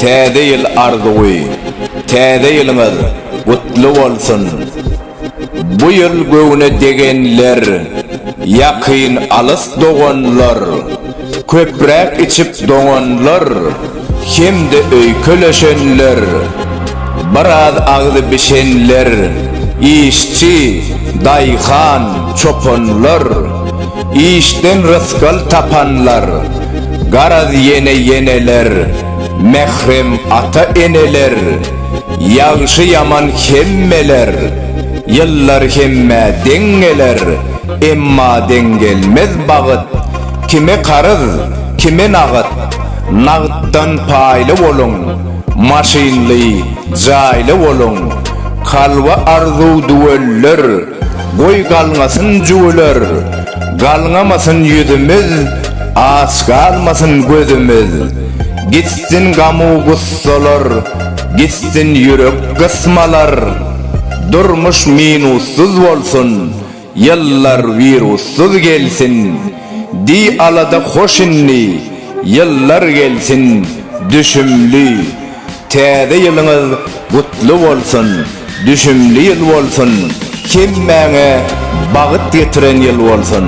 Täze ýyl arzuwy Täze ýylyňyz gutly bolsun! Bu ýyl göwne degenler, ýakyn-alys doganlar, Köpräk içip doňanlar hem-de öýkeleşenler, biraz agzy bişenler, işçi, daýhan, çopanlar, işden rysgal tapanlar, garaz ýene ýeneler, mährem ata-eneler, ýagşy-ýaman hemmeler, ýyllar hemmä deň geler, emma deň gelmez bagyt, Kime karyz, kime nagt, nagtdan paýly boluň, maşynly, jaýly boluň, kalba arzuw düwelder, goý galňasyn jüwüler, galňamasyn ýüzümiz, aç galmasyn gözümiz, gitsin gamu gussalar, gitsin ýürek gysmalar, durmuş minussyz bolsun, Ýyllar wirussyz gelsin, Di alada hoş indi, Ýyllar gelsin, Düşümli. Täze ýylyňyz gutly bolsun, Düşümli ýyl bolsun, Hemmäňe bagyt getiren ýyl bolsun.